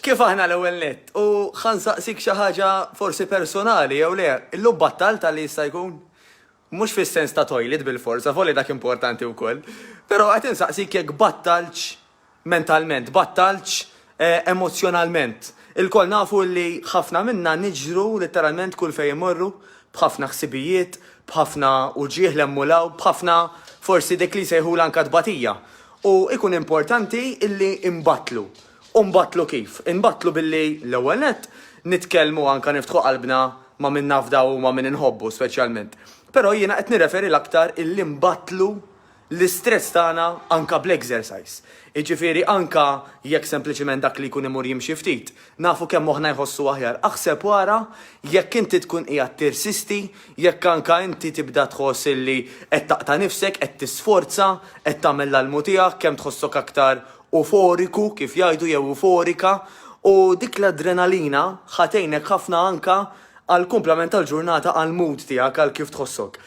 Kif aħna l-ewwel nett? U ħa nsaqsik xi ħaġa forsi personali jew le, illum battalt għal li jista' jkun? Mhux fis-sens ta' toilet bilfors, avolja dak importanti wkoll, però qed insaqsik jekk battaltx mentalment, battaltx emozzjonalment. Ilkoll nafu li ħafna minna niġru litteralment kull fejn immorru, b'ħafna ħsibijiet, b'ħafna uġigħ 'l hemm u 'l hawn, b'ħafna forsi dik li jsejħulha anke tbatija. U jkun importanti illi nbattlu. U nbattlu kif? Inbattlu billi, l-ewwel nett, nitkellmu anke niftħu qalbna ma' min nafdaw u ma' min inħobbu speċjalment. Però jiena qed nirreferi l-aktar illi nbattlu l-istress tagħna anke bl-exercise. Jiġifieri anke jekk sempliċiment dak li jkun imur jimxi ftit, Nafu kemm moħħna jħossu aħjar. Aħseb u ara jekk inti tkun qiegħed tirsisti, jekk anke inti tibda tħoss illi qed taqta' nifsek, qed tisforza, qed tagħmel l-almu tiegħek, kemm tħossok aktar uforiku, kif jgħidu, jew uforika, u dik l-adrenalina ħa tgħinek ħafna anke għall-kumplament tal-ġurnata, għall-mood tiegħek, għal kif tħossok.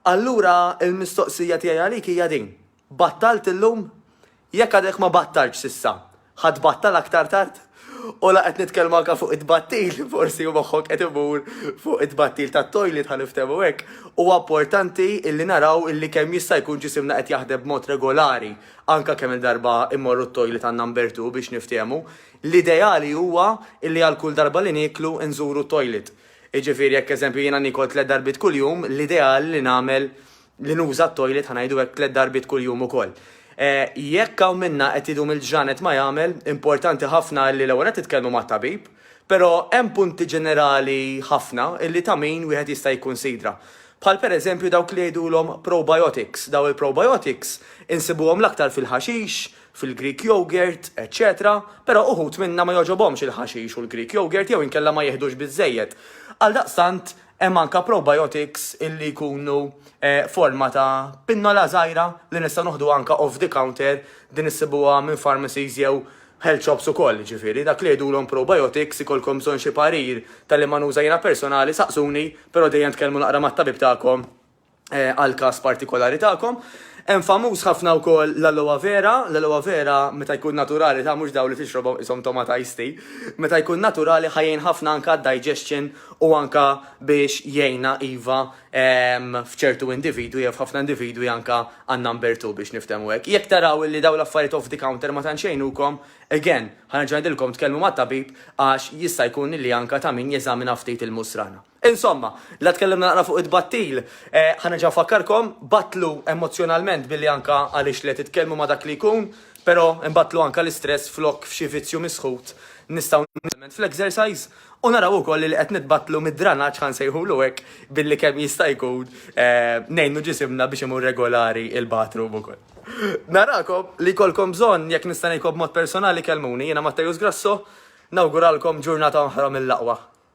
Allura l-mistoqsija tiegħi għalik hija din. Battalt illum? Jekk għadek ma battaltx s'issa, ħa tbattal aktar tard? U la qed nitkellmu anke fuq it-tbattil, forsi u moħħok qed imur fuq it-tbattil tat-toilet ħa niftehmu hekk, huwa importanti illi naraw illi kemm jista' jkun ġisimna qed jaħdem b'mod regolari, anke kemm-il darba mmorru t-toilet għandna nbertuh biex niftehmu. L-ideali huwa illi għal kull darba li nieklu nżuru t-toilet. Jiġifieri jekk eżempju jiena niekol tliet darbiet kuljum, l-ideali li nagħmel li nuża t-toilet ħa ngħidu hekk tliet darbiet kuljum ukoll. Jekk hawn minna qed idum il-ġranet ma jagħmel, importanti ħafna li l-ewwel nett titkellmu mat-tabib, però hemm punti ġenerali ħafna li ta' min wieħed jista' jikkunsidra. Bħal pereżempju dawk li jgħidulhom probiotics. Dawn il-probiotics insibuhom l-aktar fil-ħaxix, fil-Greek yogurt, eċċetera, però uħud minna ma jogħġobhomx il-ħaxix u l-Greek yogurt jew inkella ma jiħdux biżżejjed. Għaldaqstant Hemm anke probiotics illi jkunu forma ta' pinnola żgħira li nistgħu noħdu anke off the counter, din issibuha minn pharmacies jew health shops ukoll, jiġifieri dak li jgħidulhom probiotics ikollkom bżonn xi parir ta' liema nuża jiena personali saqsuni, però dejjem tkellmu naqra mat-tabib tagħkom. għall-każ partikolari tagħkom. Hemm famuż ħafna wkoll l-aloe vera, l-aloe vera meta jkun naturali ta' mhux dawn li tixrobhom qishom tomata iced tea, meta jkun naturali ħa jgħin ħafna anke għad-digestion u anke biex jgħinna iva f'ċertu individwi jew f'ħafna individwi anke għan-number two biex niftehmu hekk. Jekk taraw illi dawn l-affarijiet off the counter ma tantx jgħinukom, again, ħa nerġa' ngħidilkom tkellmu mat-tabib għax jista' jkun illi anke ta' min jeżamina ftit il-musrana. Insomma, la tkellimna naqra fuq it-tbattil, ħa nerġa' nfakkarkom, battlu emozzjonalment billi anka għaliex le titkellmu ma' dak li jkun, però nbattlu anka l-istress flok f'xi vizzju misħut nistgħu nitgħallmu fl-exercise u naraw ukoll li qed nitbattlu mid-dranaġġ ħa nsejħulu hekk billi kemm jista' jkun ngħinu ġisimna biex imur regolari il-bathroom ukoll. Narakom, li jkollkom bżonn, jekk nista' ngħidkom b'mod personali kellmuni, jiena Matteus Grasso, nawguralkom ġurnata oħra mill-aqwa.